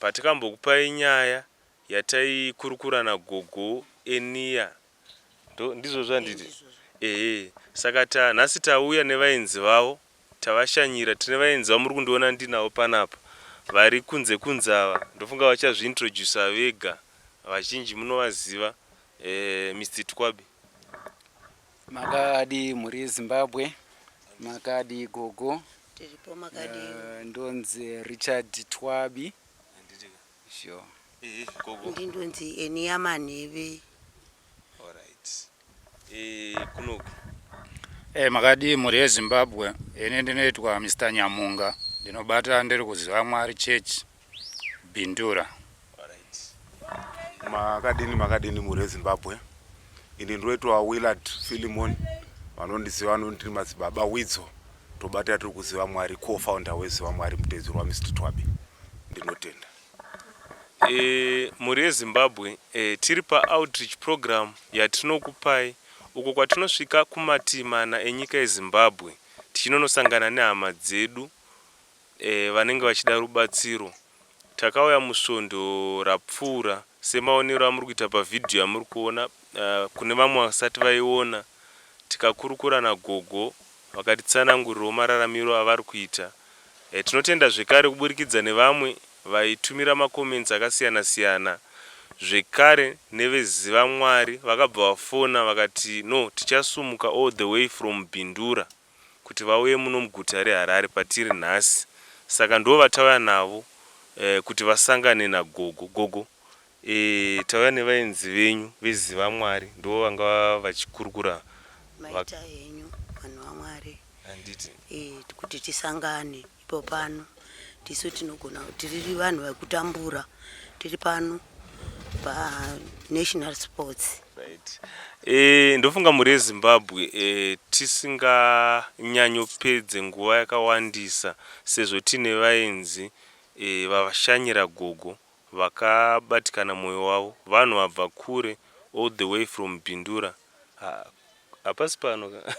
patikambokupai nyaya yataikurukura nagogo Enia ndo ndizvo zvanditi ehe saka ta nhasi tauya nevaenzi vavo tavashanyira tine vaenzi vamuri kundiona ndinavo panapa vari kunze kunze ava ndofunga vachazviintroducer vega vazhinji munovaziva eh, Mr Tikwabi Makadii mhuri yeZimbabwe, makadii gogo? Tiripo makadii? Eh, ndonzi Richard Twabi. Handitika. Sure. Ehe gogo. Ndi ndonzi Enia Manheve. Alright. Eh kunoku. Eh makadii mhuri yeZimbabwe? Ini ndinoitwa Mr Nyamunga. Ndinobata ndiri kuziva Mwari Church Bindura. Makadini makadini mhuri yeZimbabwe. Ini ndoitwa Willard Philemon vanondiziva vanonditi madzibaba Widzo tobata tiri kuziva Mwari co-founder weziva Mwari mutedzero waMr Twabi. Ndinotenda. E, mhuri yeZimbabwe e, tiri paoutreach program yatinokupai uko kwatinosvika kumatii mana enyika yeZimbabwe tichinonosangana nehama dzedu vanenge vachida rubatsiro. Takauya musvondo rapfuura semaonero amuri kuita pavhidhiyo yamuri kuona kune vamwe vasati vaiona. Tikakurukura nagogo vakatitsanangurirawo mararamiro avari kuita. Tinotenda zvekare kuburikidza nevamwe vaitumira macomments akasiyana siyana zvekare neveZivamwari vakabva vafona vakati no tichasumuka all the way from Bindura. kuti vauye muno muguta reHarare patiri nhasi saka ndovatauya navo kuti vasangane nagogo. Gogo tauya nevaenzi venyu veZivamwari ndivo vanga vachikurukura Maita henyu vanhu vaMwari handiti kuti tisangane. Ipo pano tisu tinogona tiri vanhu vakutambura tiri pano panational sports right. E, ndofunga mhuri yezimbabwe e, tisinganyanyopedze nguva yakawandisa sezvo tiine vaenzi e, vashanyira gogo vakabatikana mwoyo wavo vanhu vabva kure all the way from bindura ha, hapasi pano ka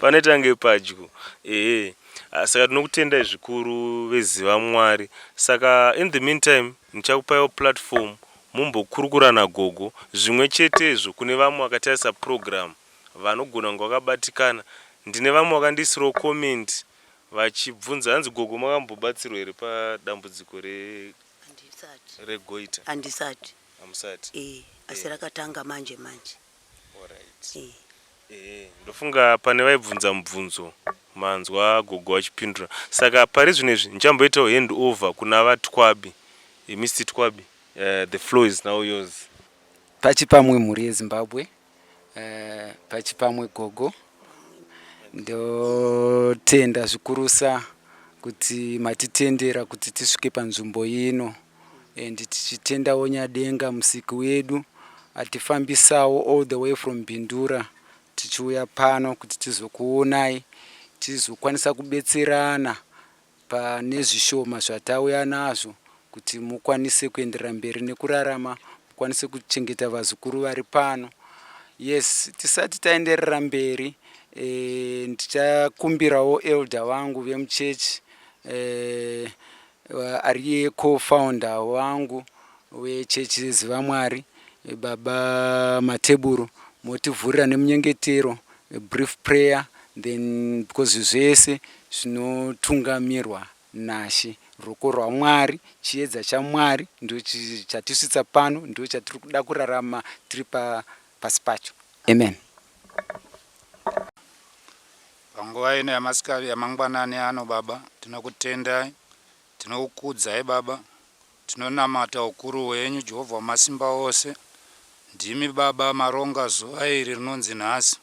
panoita nge padyo ehe ah, saka tinokutendai zvikuru veziva mwari saka in the meantime ndichakupaiwo platform mumbokurukura nagogo zvimwe chetezvo kune vamwe vakatarisa program vanogona kunge vakabatikana ndine vamwe vakandiisirawo comment vachibvunza hanzi gogo makambobatsirwa here padambudziko re regoita handisati hamusati e, asi e. rakatanga manje manje ndofunga pane vaibvunza mubvunzo manzwa gogo vachipindura saka pari zvino izvi ndichamboitawo hand over kuna vatwabi eh, mr twabi uh, the flow is now yours pachipamwe mhuri yezimbabwe uh, pachipamwe gogo ndotenda zvikurusa kuti matitendera kuti tisvike panzvimbo ino and tichitendawo nyadenga musiki wedu atifambisawo all the way from bindura tichiuya pano kuti tizokuonai tizokwanisa kubetserana pane zvishoma zvatauya nazvo kuti mukwanise kuenderera mberi nekurarama mukwanise kuchengeta vazukuru vari pano yes tisati taenderera mberi eh, ndichakumbirawo elder vangu vemuchechi eh, Ariye co-founder wangu wechechi yeZiva Mwari, Baba Mateburu, motivhurira nemunyengetero, a brief prayer then because zvese zvinotungamirwa naShe. Ruoko rwaMwari, chiedza chaMwari ndicho chatisvitsa pano, ndicho chatiri kuda kurarama tiri pasi pacho. Amen. Panguva ino yamasikati yamangwanani ano Baba tinokutendai tinokukudzai Baba tinonamata ukuru hwenyu Jehovha wamasimba ose ndimi Baba maronga zuva iri rinonzi nhasi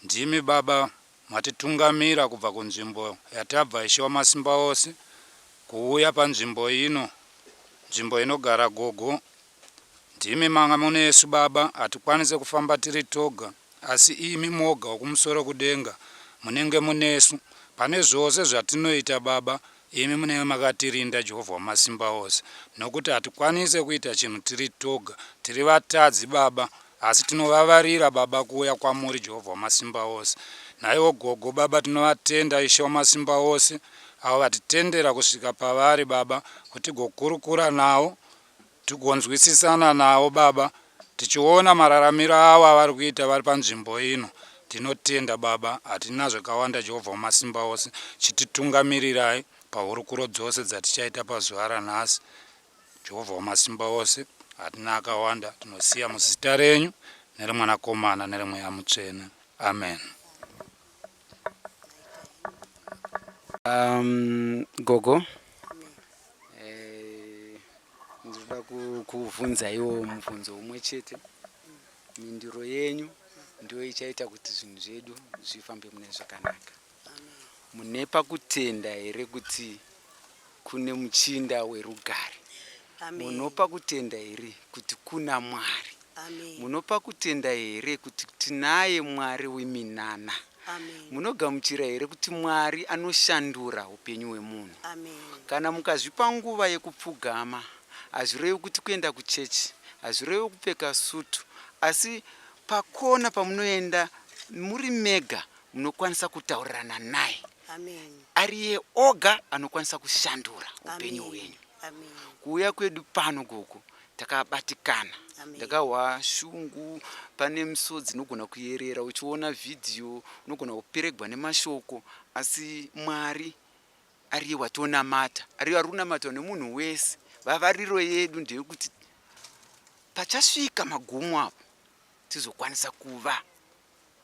ndimi Baba matitungamira kubva kunzvimbo yatabva Ishe wamasimba ose kuuya panzvimbo ino nzvimbo inogara gogo Ndimi manga munesu baba hatikwanise kufamba tiri toga asi imi moga wekumusoro kudenga munenge munesu pane zvose zvatinoita baba imi munenge makatirinda Jehovah wamasimba ose nokuti hatikwanise kuita chinhu tiri toga tiri vatadzi baba asi tinovavarira baba kuuya kwamuri Jehovah wamasimba ose naiwo gogo baba tinovatenda ishe wamasimba ose avo vatitendera kusvika pavari baba kutigokurukura nawo tigonzwisisana navo baba tichiona mararamiro avo avari kuita vari panzvimbo ino tinotenda baba hatina zvakawanda Jehovha wamasimba ose chititungamirirai pahurukuro dzose dzatichaita pazuva ranhasi Jehovha wamasimba ose hatina akawanda tinosiya muzita renyu neremwanakomana neremweya mutsvene amen um, gogo Eh, ndinoda kuvhunzaiwo mubvunzo umwe chete mindiro yenyu ndiyo ichaita kuti zvinhu zvedu zvifambe mune zvakanaka mune pakutenda here kuti kune muchinda werugare munopa kutenda here kuti kuna mwari Amen. Munopa kutenda here kuti tinaye Mwari weminana? Amen. Munogamuchira here kuti Mwari anoshandura upenyu hwemunhu? Amen. Kana mukazvipa nguva yekupfugama, hazvirevi kuti kuenda kuchechi, hazvirevi kupfeka sutu, asi pakona pamunoenda muri mega munokwanisa kutaurirana naye. Amen. Ariye oga anokwanisa kushandura upenyu hwenyu. Amen. Kuuya kwedu pano gogo takabatikana ndakahwa shungu pane misodzi inogona kuyerera uchiona vhidhiyo unogona kuperegwa nemashoko asi mwari ariye watonamata ariye ari kunamatwa nemunhu wese vavariro yedu ndeyekuti pachasvika magumo apo tizokwanisa kuva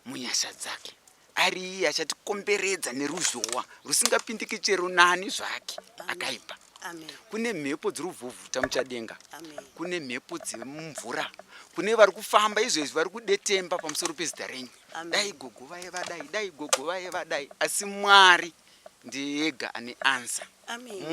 munyasha dzake ari iye achatikomberedza neruzhowa rusingapindiki chero nani zvake akaipa kune mhepo dziri kuvhuvhuta muchadenga kune mhepo dziri mumvura kune vari kufamba izvezvi vari kudetemba pamusoro pezita renyu dai gogo vaye vadai dai gogo vaye vadai asi mwari ndiye ega ane answer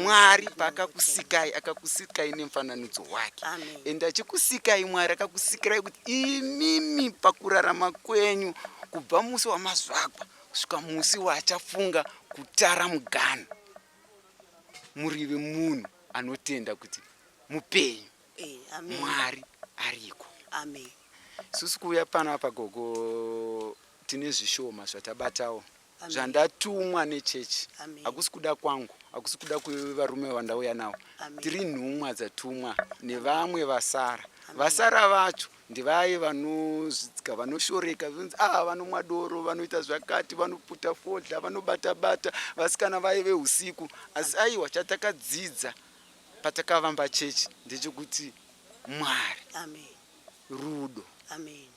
mwari paakakusikai akakusikai nemfananidzo wake and achikusikai mwari akakusikirai kuti imimi pakurarama kwenyu kubva musi wamazvagwa kusvika musi waachafunga kutara mugano murive munhu anotenda kuti mupenyu eh, mwari ariko susi kuuya pano apa gogo tine zvishoma zvatabatawo zvandatumwa nechechi hakusi kuda kwangu hakusi kuda kwevarume vandauya navo tiri nhumwa dzatumwa nevamwe vasara vasara vacho ndivaye vanozvidzika vanoshoreka zvinzi a ah, vanomwa doro vanoita zvakati vanoputa fodla vanobata bata vasikana vaye veusiku asi aiwa chatakadzidza patakavamba chechi ndechekuti mwari rudo Amen.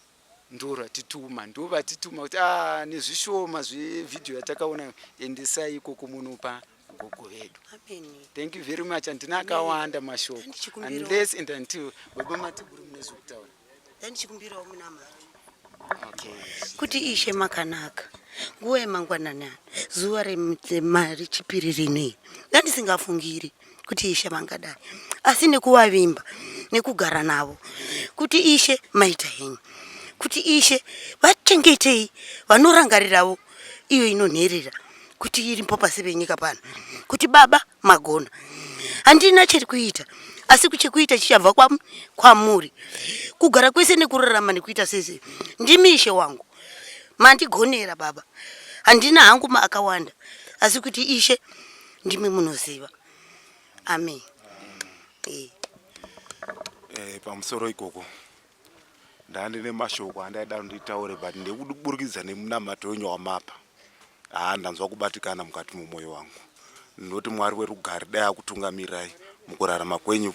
ndoratituma ndovatituma kuti ah, nezvishoma zvevhidhiyo yatakaona endesai ikoko munopa gogo vedu thank you very much handina akawanda mashoko unless and until baba matiguru mune zvekutaura ndandichikumbirawo muna mari kuti ishe makanaka nguva yemangwanani zuva remari chipiri rinei ndandisingafungiri kuti ishe vangadai asi nekuvavimba nekugara navo kuti ishe maita henyu kuti ishe vachengetei vanorangariravo iyo inonherera kuti irimpo pasi penyika pano kuti baba magona handina chiri kuita asi kuchikuita chichabva kwamuri kugara kwese nekurarama nekuita sese ndimi ishe wangu mandigonera baba handina hangu maakawanda asi kuti ishe ndimi munoziva amen eh. Eh, pamusoro ikoko ndandine mashoko andaida nditaure but ndekuburikidza nemunamato wenyu wamapa haa ndanzwa kubatikana mukati mumwoyo wangu ndinoti mwari werugare dai akutungamirai mukurarama kwenyu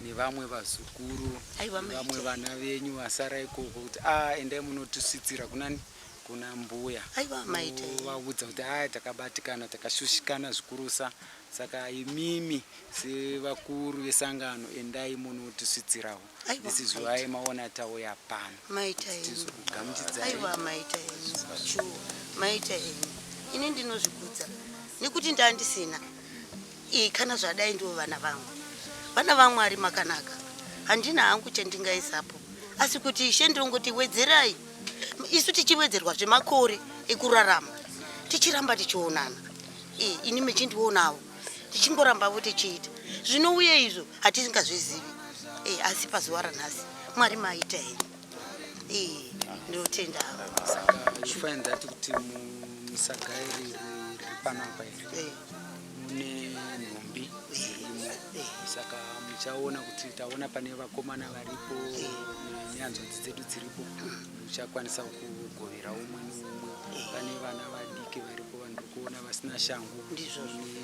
nevamwe vazukuru vamwe vana venyu vasara ikoko kuti a ah, endai munotusvitsira kunani kuna mbuya vaudza kuti aya takabatikana takashushikana zvikurusa saka imimi sevakuru vesangano endai munotisvitsirawo this is why maona tauya pano maita ini ndinozvikudza nekuti ndandisina Ii kana zvadai ndivo vana vangu vana vamwari makanaka handina hangu chandingaisapo asi kuti ishe ndongoti wedzerai isu tichiwedzerwa zvemakore ekurarama tichiramba tichionana ii ini mechindionawo tichingorambavo tichiita zvinouye izvo hatisingazvizivi ii asi pazuva ranhasi mwari maita henyu ndinotenda find that kuti musaga iri riri panapa iri mune nhumbi dzirimo saka muchaona kuti taona pane vakomana varipo nyanzvadzi dzedu dziripo muchakwanisa kugovera umwe neumwe pane vana vadiki varipo vanhu kuona vasina shangu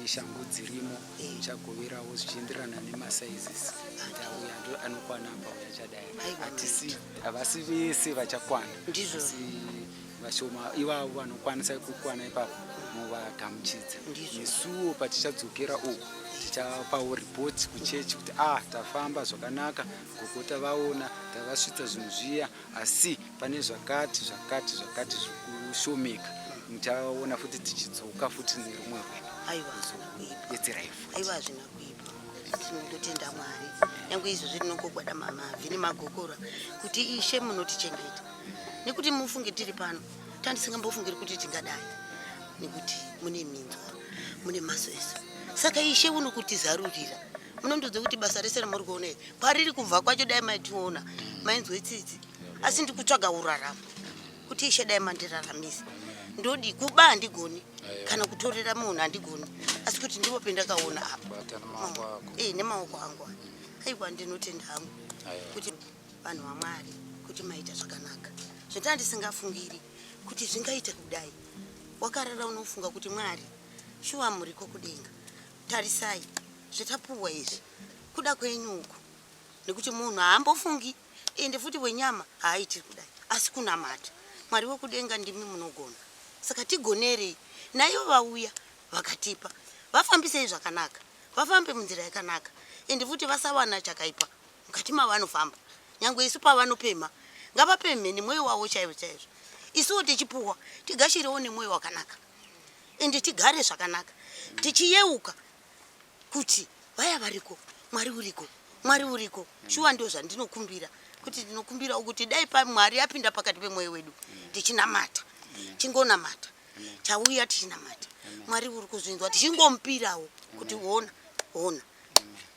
neshangu dzirimo chagoverawo zvichienderana nemasizes kuti auya anokwana apa uya chadai hatisi havasi vese vachakwana vashoma ivavo vanokwanisa kukwana ipapo movagamuchidza nesuwo patichadzokera uku tichapawo ripoti kuchechi kuti ah tafamba zvakanaka gokota vaona tavasvitsa zvinhu zviya asi pane zvakati zvakati zvakati zvikushomeka muchaona futi tichidzoka futi nerumwe rwedu aiwa betserai futi aiwa hazvina kuipa tinototenda mwari nyange izvozvi rinongogwada mama vhini magokora kuti ishe munotichengeta nekuti mufunge tiri pano tandisingambofungiri kuti tingadai nekuti mune minzwa mune maso ese saka ishe unokutizarurira munondiudza kuti basa rese ramuri kuona iri kwariri kubva kwacho dai maitiona mainzwe tsitsi asi ndikutsvaga uraramo kuti ishe dai mandiraramise ndodi kuba handigoni kana kutorera munhu handigoni asi kuti ndipo pendakaona apa e nemaoko angu a aiwa ndinotenda hangu kuti vanhu vamwari kuti maita zvakanaka zvotaa ndisingafungiri kuti zvingaite kudai wakarara unofunga kuti mwari shuwa muriko kudenga Tarisai zvetapuwa izvi kuda kwenyu uku nekuti munhu haambofungi ende futi wenyama haaitiri kudai asi kunamata mwari wekudenga ndimi munogona saka tigonerei naivo vauya vakatipa vafambisei zvakanaka vafambe munzira yakanaka ende futi vasawana chakaipa mukati mavanofamba nyange isu pavanopemha ngavapemhe nemwoyo wavo chaizvo chaizvo isuwo tichipuwa tigashirewo nemwoyo wakanaka ende tigare zvakanaka tichiyeuka kuti vaya variko mwari uriko mwari uriko shuwa ndo zvandinokumbira kuti ndinokumbirawo kuti dai pamwari apinda pakati pemwoyo wedu tichinamata tingonamata tauya tichinamata mwari uri kuzvinzwa tichingomupirawo kuti ona ona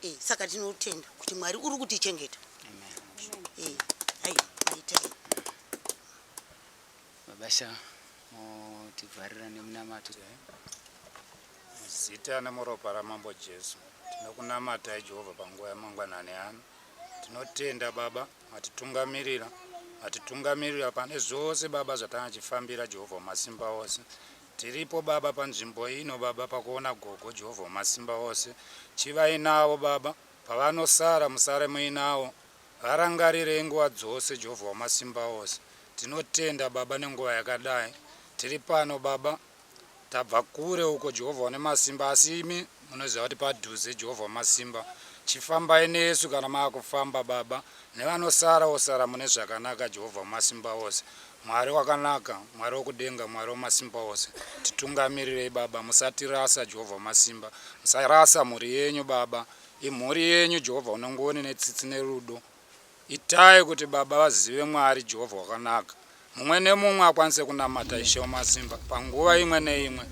eh, saka tinotenda kuti mwari uri kutichengeta eh, Mabasha motivharira nemunamato. Muzita nemuropa raMambo Jesu tinokunamatai Jehovha panguva yamangwanani ano. Tinotenda Baba matitungamirira matitungamirira pane zvose Baba zvatangachifambira Jehovha wamasimba ose. Tiripo Baba panzvimbo ino Baba pakuona gogo Jehovha wamasimba ose. Chivai navo Baba pavanosara musare muinawo Varangarirei nguva dzose Jehovha Wamasimba Ose. Tinotenda baba nenguva yakadai tiri pano baba tabva kure uko Jehovha Wanemasimba asi imi munoziva kuti padhuze Jehovha Wamasimba chifambai nesu kana maakufamba baba nevanosara osara mune zvakanaka Jehovha Wamasimba Ose Mwari wakanaka Mwari wokudenga Mwari Wamasimba Ose titungamirirei baba musatirasa Jehovha Wamasimba musarasa mhuri yenyu baba Imhuri yenyu Jehovha unongoni netsitsi nerudo. Itai kuti baba vazive Mwari Jehovha wakanaka. Mumwe nemumwe akwanise kunamata Ishe Wamasimba panguva imwe neimwe.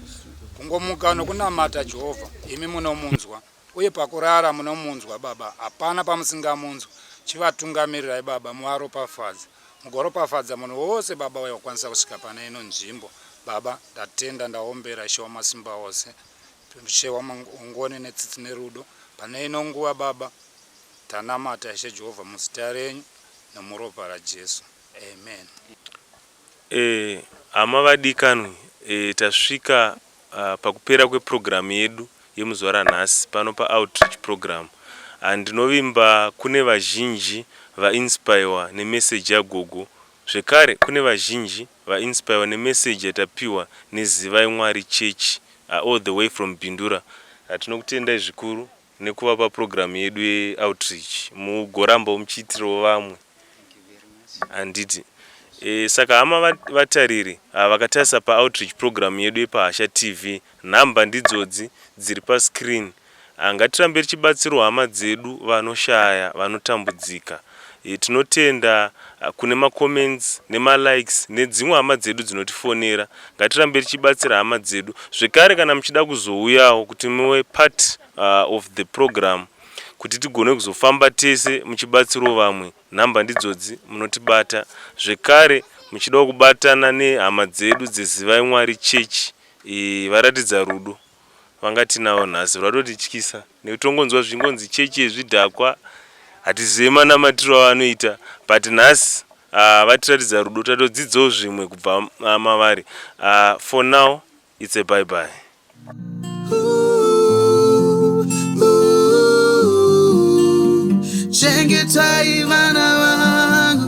Kungomuka nokunamata Jehovha, imi munomunzwa. Uye pakurara munomunzwa Baba, hapana pamusingamunzwi. Chivatungamirirai Baba, muvaropafadze. Mugoropafadza munhu wose Baba uye wakwanisa kusvika pane ino nzvimbo. Baba, ndatenda, ndaombera Ishe Wamasimba ose. Tunduchewa mangoni netsitsi nerudo pane ino nguva baba tanamata ishe Jehovah muzita renyu nemuropa raJesu amen. Eeh hama vadikanwi eeh tasvika pakupera kwe program yedu yemuzuva ranhasi pano pa outreach program and ndinovimba kune vazhinji va inspirewa ne message ya gogo zvekare kune vazhinji Va inspire ne message yatapiwa ne Zivai Mwari Church all the way from Bindura. Tinokutendai zvikuru nekuva pa program yedu ye outreach. Mugorambawo muchiitirawo vamwe handiti. Saka hama vatariri ava vakatarisa pa outreach program yedu yepa Hasha TV number ndidzodzi dziri pa screen. Ngatirambe tichibatsirawo hama dzedu vanoshaya vanotambudzika. Tinotenda kune ma comments nema likes nedzimwe hama dzedu dzinotifonera. Ngatirambe tichibatsira hama dzedu. Zvekare kana muchida kuzouyawo kuti muve part of the program kuti tigone kuzofamba tese muchibatsirawo vamwe number ndidzodzi munotibata. Zvekare muchidawo kubatana nehama dzedu dze Zivai Mwari Church Varatidza Rudo vangatinavo nhasi rwatotityisa nekuti tongonzwa zvingonzi chechi zvidhakwa hatizive manamatiro avanoita but nhasi uh, vatiratidza rudo tatodzidzawo zvimwe kubva uh, mavari uh, for now it's a bye bye chengetai vana vangu